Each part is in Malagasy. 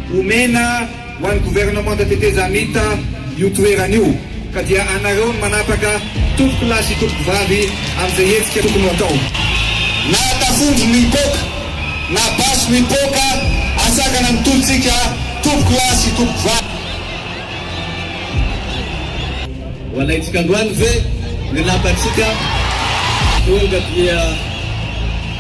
Omena ho an'ny governemanta tetezamita io toerana io ka dia anareo no manapaka tompokolahy sy tompokovavy amin'izay hetsika tokony ho atao. Na tafondro no hipoaka, na basy no hipoaka, asakana ny tolontsika tompokolahy sy tompokovavy. Ho alaintsika androany ve ny lapantsika? Tonga dia.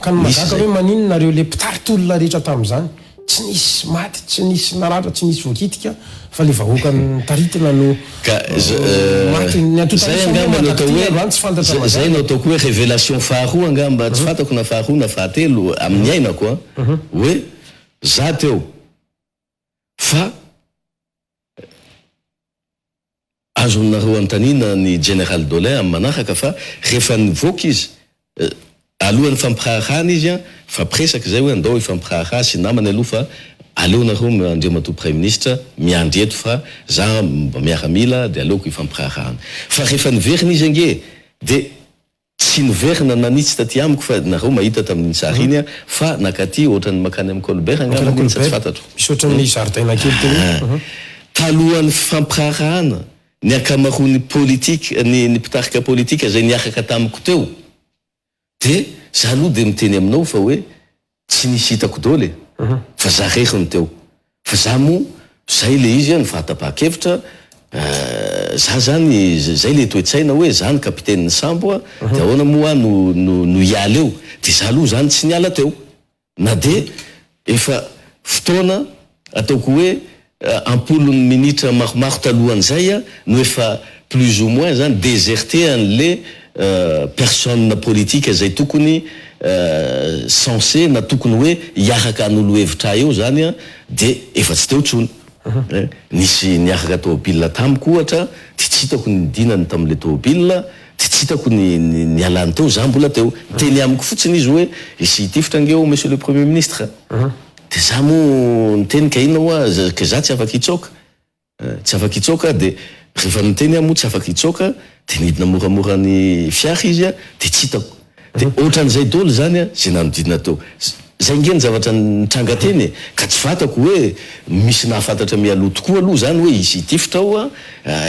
Ka ny mahagaga hoe maninona nareo le mpitarika olona rehetra tamin'izany tsy nisy maty tsy nisy naratra tsy nisy voakitika fa le vahoaka nitaritina no maty ny antotanisa moa mandrak'ity androany tsy fantatra mazava e. Zay no ataoko hoe revelation faharoa angamba tsy fantako na faharoa na fahatelo amin'ny iainako an hoe za teo fa Azonareo anontaniana ny General Dolin amin'ny manaraka fa rehefa nivoaka izy, alohan'ny fampiraharahana izy an, nifampiresaka izay hoe andao hifampiraharaha sy namany aloha fa aleo nareo Andriamatoa Praiminisitra miandry eto fa za mba miaramila dia aleoko hifampiraharahana. Fa rehefa niverina izy ange dia Tsy niverina nanitsy taty amiko fa nareo mahita tamin'iny sary iny aho fa nakaty ohatran'ny mankany amin'i Colbert angamba iny sa tsy fantatro. Misy ohatran'ny zaridaina kely teo iny. Talohan'ny fifampiraharahana, ny ankamaroan'ny politika, ny ny mpitarika politika izay niaraka tamiko teo dia, za aloha dia miteny aminao fa hoe Tsy nisy hitako doly e! fa za rery no teo, fa za mo zay le izy an ny fahatapahan-kevitra eh, za zany zay le toe-tsaina hoe za ny kapitenin'ny sambo an, de ahoana mo ah no no no hiala eo, de za aloha zany tsy niala teo na de efa fotoana ataoko hoe Am-polony minitra maromaro talohan'izay no efa plus ou moins zany déserté an'le personne politique izay tokony censé na tokony hoe hiaraka hanolo hevitra ahy eo zany de efa tsy teo tsony. Nisy niaraka tôbila tamiko ohatra de tsy hitako ny nidinany tam'le tôbila de tsy hitako ny nialany teo, za mbola teo. Niteny amiko fotsiny izy hoe hisy hitifitra ange ao Monsieur le Premier Ministre. Dia za moa niteny ka inona hoa ka za tsy afaka hitsoaka? Tsy afaka hitsoaka dia rehefa niteny aho moa tsy afaka hitsoaka dia nidina moramora ny fiara izy dia tsy hitako. Dia ohatran'izay doly izany izay nanodidina teo. Izay nge ny zavatra nitranga teny e! Ka tsy fantako hoe misy nahafantatra mialoha tokoa aloha izany hoe hisy hitifitra ao,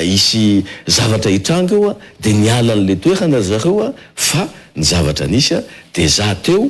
hisy zavatra hitranga eo dia niala an'ilay toerana ry zareo fa ny zavatra nisy dia za teo